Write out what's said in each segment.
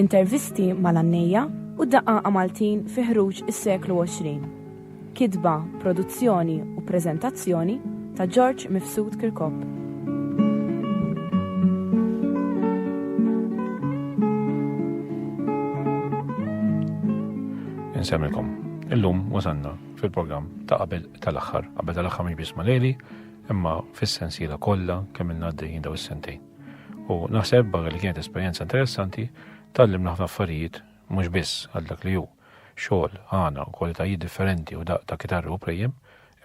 Intervisti mal-għannejja u daqaqa Maltin fi ħruġ is-seklu 20. Kitba, produzzjoni u preżentazzjoni ta' George Mifsud Kirkop. insemmilkom. Illum wasanna fil-programm ta' qabel tal-aħħar, qabel tal-aħħar mhix biss maleli, imma fis-sensiela kollha kemm il-għaddejjin daw is-sentejn. U naħseb barra li kienet esperjenza interessanti, tallim naħna affarijiet mhux biss għal dak li hu xogħol għana u kwalitajiet differenti u daq ta' kitarru u prejjem,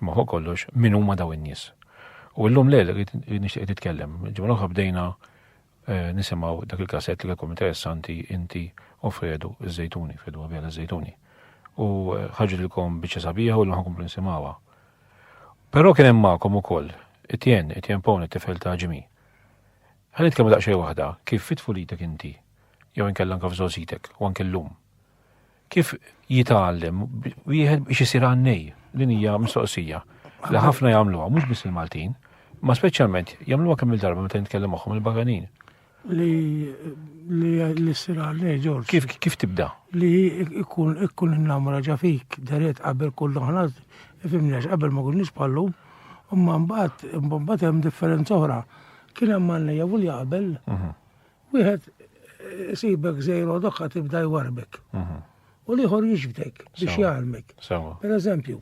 imma fuq kollox min huma daw in-nies. U llum lejl nixtieq titkellem, ġimgħa oħra bdejna eh, nisimgħu dak il-kasett li kelkom interessanti inti u Fredu iż-żejtuni, Fredu għabjala iż-żejtuni. U eh, ħarġilkom biċċa sabiħa u l-ħakum nsimgħuha. Però kien hemm magħkom ukoll Etienne, Etienne Pone, it-tifel ta' Ġimgħi. Ħa nitkellmu daqsxejn waħda kif fi tfulitek inti, jew inkella anke f'żgħożitek u anke llum. Kif jitgħallem wieħed biex isir għannej din hija mistoqsija li ħafna jagħmluha mhux biss il-Maltin, ma speċjalment jagħmluha kemm il-darba meta nitkellem magħhom il-baganin. Li li li sir għalli Ġorġ. Kif kif tibda? Li ikun ikun innamra ġa fik deret qabel kull oħra, fimnex qabel ma kunniex bħallum, imma mbagħad mbagħad hemm differenza oħra. Kien hemm għalli u li qabel mhm. wieħed sibek zejro doħħa tibda jwarbek. Mhm. U liħor jiġbdek biex jgħalmek. Per eżempju,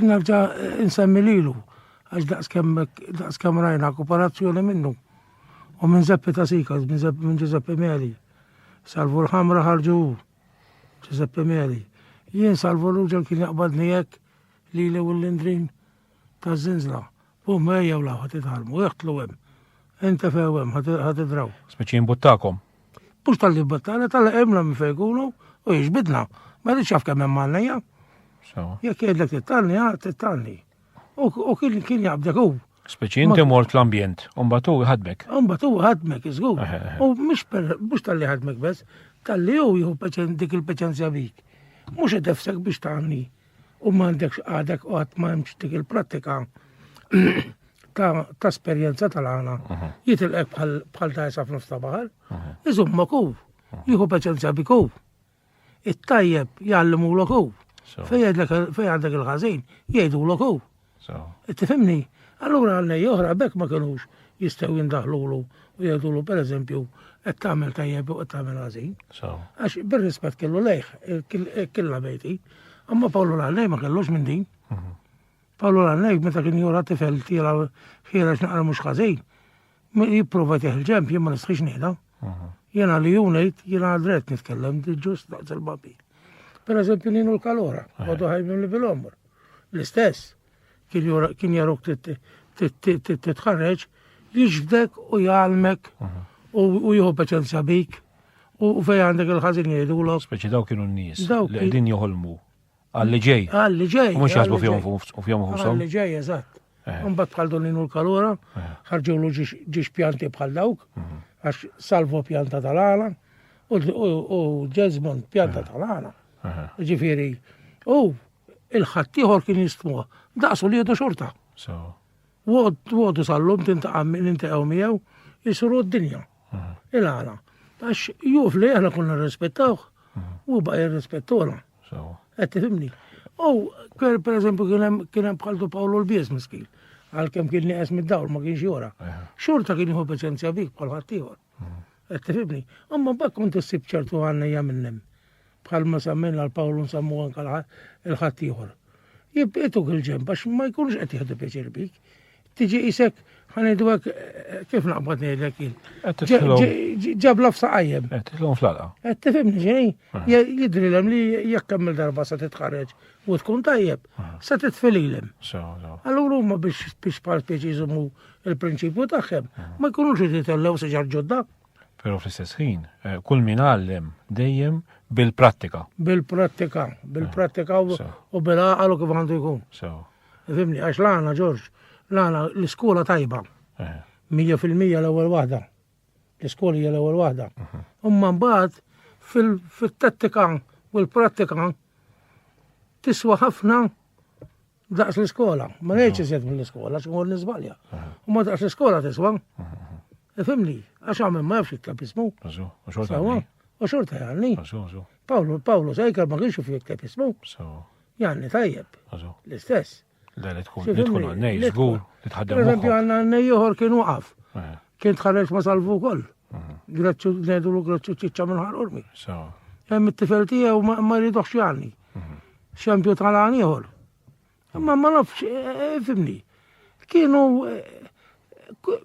nerġa' insemmi lilu, għax daqskemm rajna kooperazzjoni minnu. u minn Zeppi ta' Sika, minn Giuseppe Meli. Salvu l-ħamra ħarġu Giuseppe Meli. Jien salvu l-uġel kien jaqbadni jekk li li u l-indrin ta' zinzla. Bum ejja u laħat itħalmu, jaħtlu hemm. Inta few hemm ħad idraw. Speċi mbuttakom. Mhux tal-li battana, tal-li għemna minn fejkunu u jiġbidna. Ma rridx jaf kemm hemm għalnejja. Jekk jgħidlek tittanni, tittanni. U kien jaqbdek u. Speċi inti mort l-ambjent, u mbagħad hu jħadmek. U mbagħad hu jħadmek, iżgur. U mhux tal-li ħadmek bes, tal-li hu jieħu dik il-peċenzja bik. Mhux qed ifsek biex tagħni u m'għandekx għadek u qatt ma hemmx dik il-prattika ta' esperjenza tal-għana. Jitilqek bħal ta' jisaf nofs ta' baħar, iżummok hu, jieħu peċenzja bik hu. It-tajjeb jgħallimulok hu. Fej għandek il-ħażin, jgħidulok hu. Tifhimni? Allura għalnej oħra bekk ma kinux jistgħu jindaħlulu u jgħidulu pereżempju qed tagħmel tajjeb u qed tagħmel ħażin. Għax bir-rispett kellu lejh killa bejti. Amma Pawlu l-għalnej ma kellux minn din. Mhm. Pawlu l-għalnej meta kien jura tifel tila ħirex naqra mhux ħażin. Jipprova teħ il-ġemp, jien ma nistħix nieħda. Jena li junajt, jena għadret nitkellem, ġust daqs il-babi. Per eżempju, ninu l-kalora, għadu ħajbim li bil-omr. L-istess, kien jaruk titħarreġ, jiġbdek u jgħalmek u jħu paċenzja bik u fej għandek il-ħazin jgħidu l Speċi daw kienu n-nis li għedin joħolmu. Għalli ġej. Għalli ġej. Mux jasbu fjom u fjom u Għalli ġej, eżatt. Eh. Mbagħad bħal doninu l-kalura, eh. ħarġulu ġiex pjanti bħal dawk, mhm. għax salvo pjanta tal-għala, u Jesmond pjanta eh. tal-għala. Ġifiri, u il-ħattijħor kien jistmuħ, daqsu li jedu xorta. Wogħdu sal-lum tintaqa' min intaqgħu miegħu jisru d-dinja. Il-għala. Għax juf li aħna konna nirrispettawh u baqa' jirrispettola. Qed tifhimni. U per eżempju kien hemm bħaltu Pawlu l-Bies miskin. Għalkemm kien nieqes mid-dawl ma kienx jora. Xorta kien jieħu paċenzja bik bħal ħaddieħor. Qed tifhimni? Imma mbagħad kont issib ċertu għannejja minnem. Bħal ma semmejna l-Pawlu nsemmu anke l-ħadd ieħor. Jibqietuk il-ġemb għax ma jkunux qed jieħdu pjaċir bik. Tiġi isek ħanidu hekk eh, kif naqbad ngħidlek jien. Ġabla f'saqajjem. Qed titlhom fl-alqa. Qed tifhimni ġej. Jidrilem li jekk kemm darba se titħarreġ u tkun tajjeb, se titfililem. Allura huma biex biex bħal pjaċi jżommu il-prinċipju tagħhom ma jkunux qed jitellgħu siġar ġodda. Però fl-istess ħin, eh, kull min għallem dejjem bil-prattika. Bil-prattika, bil-prattika u eh, bil-għaqal u kif għandu jkun. Fimni, għax l-għana, Ġorġ, l-għana l-iskola tajba. Eh. Mija fil-mija l-ewwel waħda. L-iskola hija l-ewwel waħda. Mhm. Umma mbagħad fil-tattika u l-prattika tiswa ħafna Daqs l-iskola, ma ngħidx ah. iżjed mill-iskola, x'mur niżbalja. Ah. U ma daqs l-iskola tiswa. Ah, Ifimni, għax għamil ma jafx jikteb ismu. U xorta jgħalni. Pawlu, Pawlu, sajka ma kienx fi jikteb ismu. Jgħalni tajjeb. L-istess. Le, li tkun tkun għannej, zgur, li tħaddem. Per eżempju, għanna għannej joħor kien waqaf. Eh. Kien tħarreġ ma salvu koll. Eh. Grazzu, nedu l-grazzu ċiċċa minn ħarqurmi. Hemm it-tifel tiegħu ma jridux jgħalni. Xempju tal-għan ieħor. Imma ma nafx, eh, fimni. Kienu eh,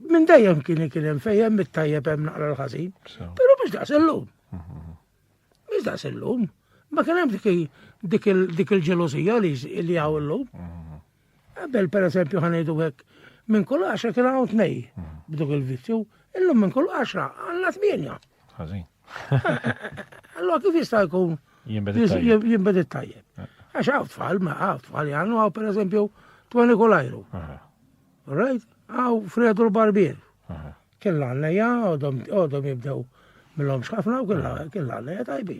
minn dejjem kien kien hemm fejjem mit-tajjeb hemm naqra l-ħażin. Però biex daqs illum. Biex daqs illum. Ma kien hemm dik il-ġelosija li hawn illum. Qabel per eżempju ħanejdu hekk minn kull għaxra kien hawn tnej b'dok il-vizzju, illum minn kull għaxra għandna tmienja. Ħażin. Allora kif jista' jkun jimbed it-tajjeb? Eh. Għax għaw tfal, ma għaw tfal jgħannu għaw per eżempju Twani Kolajru. Right? Għaw Fredu l-Barbier. Kien l-għanneja, għodhom jibdew mill-hom xħafna u kien l-għanneja tajbi.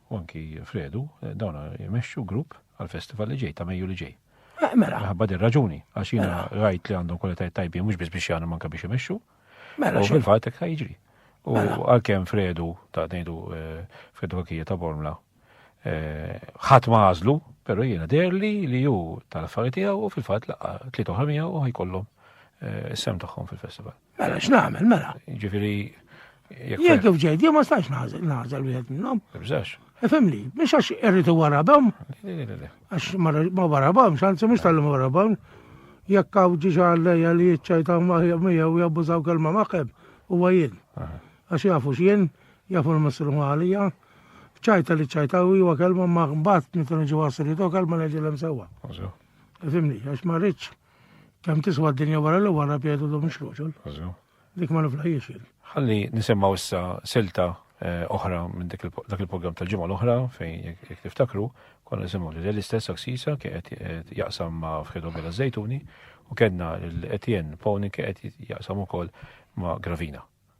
u anki Fredu, eh, dawna jmexxu grupp għal-festival li ġej ta' Mejju li ġej. Eh, mela. Ħabba dir raġuni, għax jina mela. rajt li għandhom kwalitajiet tajbin, mux biz biex jgħanu manka biex jmexxu. Mela. U fil-fat ekka jiġri. U mela. għal-kem Fredu, ta' nejdu eh, Fredu Kakija ta' Bormla, ħat ma għazlu, pero jina derli li ju tal-affarijiet u fil-fat laqqa tliet oħra u ħajkollhom sem tagħhom fil-festival. Mela, x'nagħmel, mela. Ġifieri. Jekk kif ġejt, jien ma stax nażel, nażel wieħed minnhom. Ibżax. Ifimni, biex għax irrid warabhom. Għax ma warabhom, xanzi mhux tal-lum warabhom. Jekk hawn ġiġa għallejja li jiċċajtaw miegħu u jabbużaw kelma maħħeb, huwa jien. Għax jafu x'jien, jafu l-messru għalija. ċajta li ċajta u huwa kelma ma mbagħad meta niġu għasri to kelma neġilem sewwa. Ifimni, għax ma rridx Kemm tiswa d-dinja wara li wara pjedu dom ix-xroċol. Dik ma niflħiex jien. Ħalli nisimgħu issa silta eh, oħra minn dak il-programm tal-ġimgħa l-oħra fejn jekk tiftakru konna nisimgħu li l-istess aksisa qed jaqsam ma' Fredo Bela Zejtuni u kellna l-Etienne Pawni qed jaqsam ukoll ma' Gravina.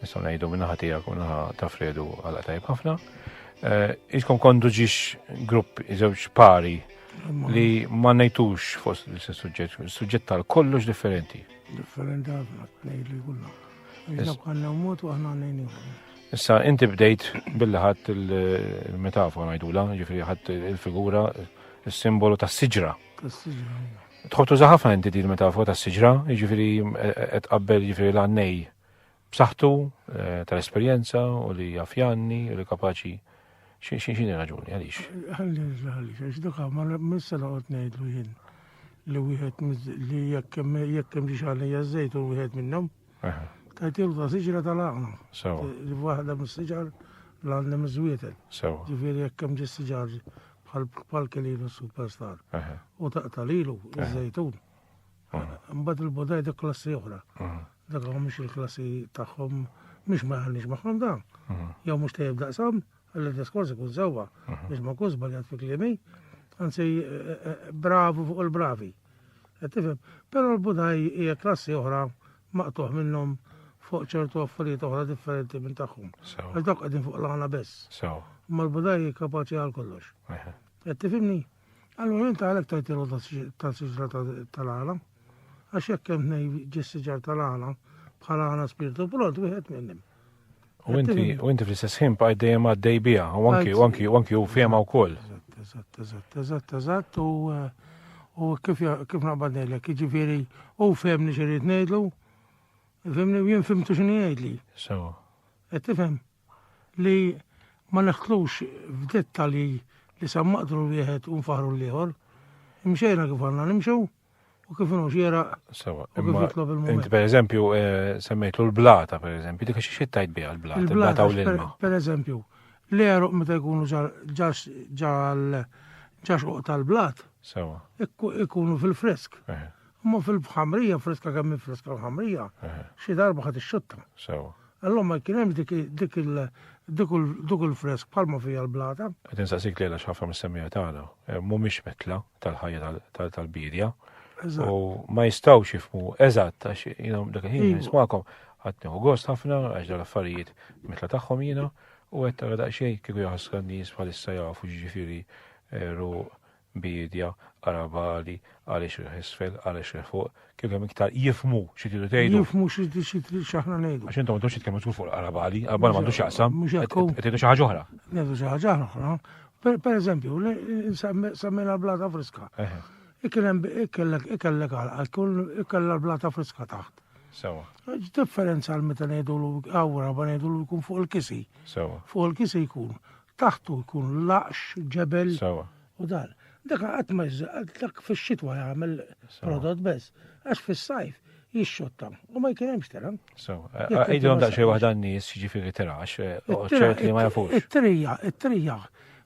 Nistgħu ngħidu min-naħa tiegħek u naħa ta' Fredu għal tajb ħafna. Iskom kondu ġiex grupp żewġ pari li ma ngħidux fost l-istess suġġett, suġġett tal kollox differenti. Differenti ħafna, tnejn li kullha. Iżda kanna mod u aħna ngħinu. Issa, inti bdejt billi ħadd il-metafora ngħidula, ġifri ħadd il-figura, il-simbolu ta' siġra. Tħobtu zaħafna inti din metafora ta' siġra, ġifri qed qabbel ġifri l-għannej. b'saħħtu tal-esperjenza u li jaf janni u li kapaċi x'inhi raġuni għaliex? Ħalli ħalli għax dak ma missa noqgħod ngħidlu jien li wieħed li jekk hemm xi xalija żejt u wieħed minnhom. Tajtilu ta' siġra tal-għaqna. Li waħda mis-siġar l-għandna miżwietel. Ġifieri jekk hemm ġis siġar bħal kelinu superstar. U taqtalilu iż-żejtun. Mbagħad il-bodajda klassi oħra. Dak hawn mhux il-klassi tagħhom mhux ma jħallix magħhom dan. Jew mhux tajjeb daqshom, għalli diskors ikun sewwa biex ma jkunx żbaljat fi kliemi. Anzi eh, eh, bravu fuq il-bravi. Qed tifhem? Però l-budaj hija klassi oħra maqtuħ minnhom fuq ċertu affarijiet oħra differenti minn tagħhom. Għal dawk qegħdin fuq l-għana biss. Ma l-budaj kapaċi għal kollox. Qed tifhimni? Allura inta għalhekk tajt il ta' siġra tal-għala. Għax jekk hemm nej ġis-siġar tal-għala bħala għala spirtu prod wieħed minnhom. U inti, u inti fl-istess ħin bqaj dejjem għaddej biha, u anki, u anki, u anki u fehma wkoll. Eżatt, eżatt, eżatt, eżatt, u eh, u kif kif naqbad ngħidlek, jiġifieri u fehmni xi rrid ngħidlu, fehmni jien fimtu x'inhi jgħidli. Sewa. Qed tifhem? li ma nidħlux f'dettalji li sa maqdru wieħed u nfaħħru l-ieħor, imxejna kif għandna nimxu u kif inhu xieraq Sewa, u kif imma jitlob il-mument. inti per eżempju eh, semmejtlu l-blata per eżempju, dik xi xi tajt biha l-blata, il-blata u Il-blata, l-ilma. per eżempju, l-eruq meta jkunu ġal- ġax ġal ġax uqta l-blat, Sewa, ikku- ikunu fil-fresk. eh, Imma fil-ħamrija, friska kemm hi friska l-ħamrija, xi darba ħadd ixxutta. Sew. Allura ma kien hemmx dik dik il dik il- dik il-fresk bħalma fija l-blata. Qed insaqsik lejla x'ħafna mis-semmija tagħna eh, mhumiex metla tal-ħajja tal- tal- tal-bidja. Eżatt. U ma jistgħux jifmu eżatt għax jiena dak il-ħin Iva. nismakom ħadd nieħu gost ħafna għax dan affarijiet mitla tagħhom jiena u qed tara daqsxejn kieku jaħsra n-nies bħalissa jafu ġifieri eh, ru biedja, arabali, għaliex il isfel, għaliex il fuq, kellhom iktar jifmu xi tridu tgħidu. Jifmu xi tridu x'aħna ngħidu. Għax intom m'għandux jitkellmu tkun fuq l-arabali, arabali m'għandux jaqsam. Mhux hekk. Qed xi ħaġa oħra. Ngħidu xi ħaġa oħra. Per eżempju, semmejna blata friska. Ikellek għal kull ikella blata friska taħt. Sewa. Differenza għal meta ngħidu l għawra ba ngħidu l jkun fuq il-kisi. Sewa. Fuq il-kisi jkun. taħtu jkun laqx, ġebel. Sawa. U dan. Dak qatt ma dak fix-xitwa jagħmel prodott bes. Għax fis-sajf jixxotta u ma jkun hemmx tira. Sawa. Għidhom daqsxejn waħda n-nies jiġifieri tira għax eh, ċert li ma jafux. It-trija, it-trija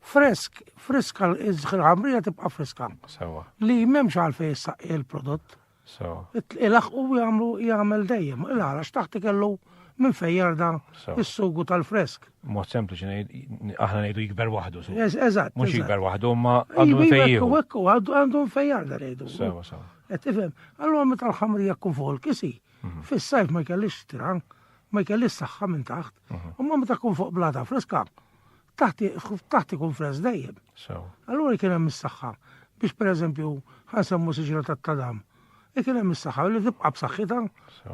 fresk, friska, il-ħamrija tibqa friska. Sawa. Li memx għalfej jissaqi il-prodott. So. Ilaħqu u jagħmlu jagħmel dejjem. Il-ħarax taħt ikellu minn fejn jarda is-sugu tal-fresk. Mod sempliċi ngħid aħna ngħidu jikber waħdu. Eżatt. Mhux jikber waħdu, ma għandu fejn. U hekk għandu fejn jarda ngħidu. Sewa, sewa. Qed ifhem. Allura meta l-ħamrija tkun fuq il-kisi, mhm. fis-sajf ma jkellix tran, ma jkellix saħħa minn taħt. Mhm. U ma meta tkun fuq blata freska, Taħt ikun freż dejjem. Allura jkun hemm is-saħħa biex pereżempju ħansemmu siġra tat-tadam. Ikun hemm is-saħħa li tibqa' b'saħħitha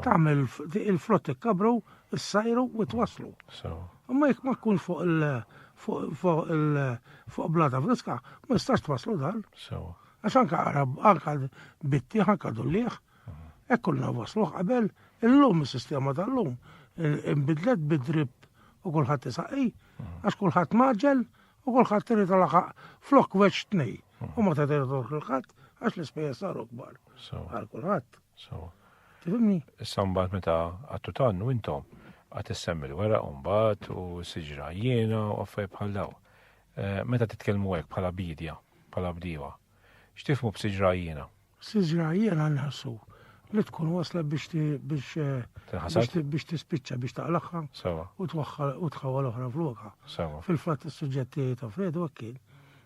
tagħmel il-frott ikkabru, issajru u twasslu. Imma jekk ma tkunx fuq il fuq il fuq blata friska, ma jistax twasslu dan. Għax anka għarab, anka bitti, anka dullieħ, Hekk kunna wasluh qabel, illum is-sistema tal-lum inbidlet bid-drip u kulħadd isaqqi, għax kulħadd maġel u kulħadd irid laħaq flok weċ tnej. U ma tagħti kulħadd għax l-ispejjeż saru kbar. Għal kulħadd. Tifhimni? Issa mbagħad meta għattu tannu intom għat issemmi l-wera u mbagħad u siġra jiena u affaj bħal daw. Eh, meta titkellmu hekk bħala bidja, bħala bdiewa, x'tifmu b'siġra jiena? Siġra jiena nħassu li tkun waslet biex biex Tinħasad? biex biex tispiċċa biex taqlagħha Sewa. u twaħħal u tħawwal oħra f'lokha. Sewa. Fil-fatt is-suġġett tiegħi ta' Fredu hekk kien.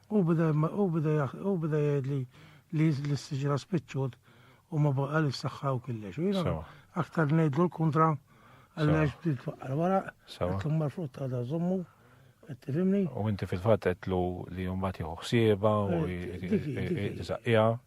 Hu beda jma- hu beda jaħ- hu beda jgħidli li li s-siġra spiċċut u ma baqgħalix saħħa u killex. U jiena Sewa. aktar ngħidlu l-kuntra għaliex bdiet twaqqar waraq, Sewa. qed mar frutta għadha żommu, Tifimni? U inti fil-fatt qedlu li mbagħad jieħu ħsieba u jisaqqiha eh,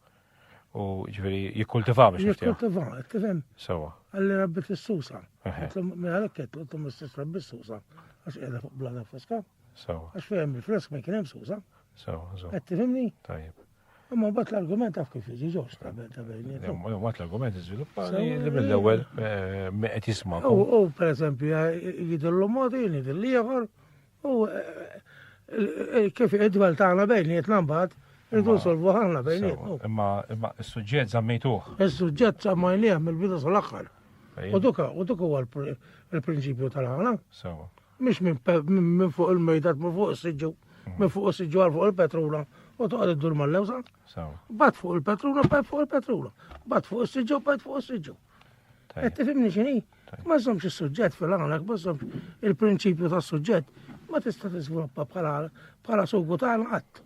u ġifieri jikkultiva biex jikkultiva, tifhem? Sewa. Għalli rabbi tissusa. Għalhekk qed qed mistess rabbi tissusa għax qiegħda fuq blada friska. Sewa. Għax fejn il-frisk ma kien hemm susa. Sewa, sewa. Qed tifhimni? Tajjeb. Imma bat l-argument taf kif jiġi ġewx ta' bejnietom. Imma bat l-argument iżviluppa li mill-ewwel eh, qed jisma'. U pereżempju eh, jidillu mod jien jidil ieħor u eh, kif id-dwel tagħna bejnietna mbagħad irdu nsolvu ħanna bejnietna. Imma imma s-suġġett żammejtuh. Is-suġġett żammajnieh mill-bidu sal-aħħar. U duka, u duka huwa l-prinċipju tal-ħana. Sewa. Mhix minn fuq il-mejda, minn fuq is-siġġu, minn fuq is-siġġu għal fuq il-petrula u toqgħod iddur mal-lewża. Bat fuq il-petrula, bat fuq il-petrula. Bat fuq is-siġġu, bat fuq is-siġġu. Qed tifhimni x'inhi? Ma żommx is-suġġett fil-għanek, ma żommx il-prinċipju tas-suġġett, ma tista' tiżviluppa bħala bħala sugu tagħna qatt.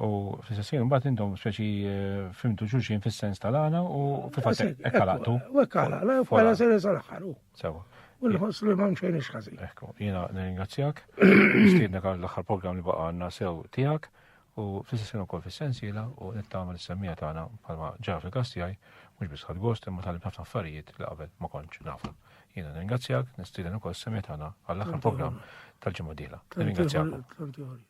U fl-istess ħin mbagħad intom speċi eh, fimtu xulxin fis-sens tal-għana u fil-fatt hekk għalaqtu. U hekk għalaqna, hekk għala sena sal-aħħar. Sewa. U nħoss li m'hemm xejn ixħażi. Ekku, jiena nirringrazzjak, nistiednek għal l-aħħar programm li baqa' għandna sew tiegħek u fl-istess ħin ukoll fis-sensiela u nittama l-semmija tagħna bħalma ġara fil-każ tiegħi mhux biss ħadd gost imma talib ħafna affarijiet li qabel ma kontx nafu. Jiena nirringrazzjak, nistieden ukoll s-semmija tagħna għall-aħħar programm tal-ġimgħa dieħla. Nirringrazzjak.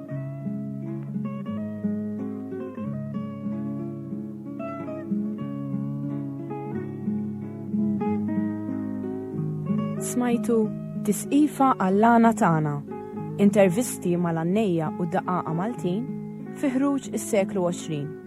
Smajtu Tisqifa għall-għana tagħna. Intervisti mal-għannejja u daqaqa Maltin fi ħruġ is-seklu 20.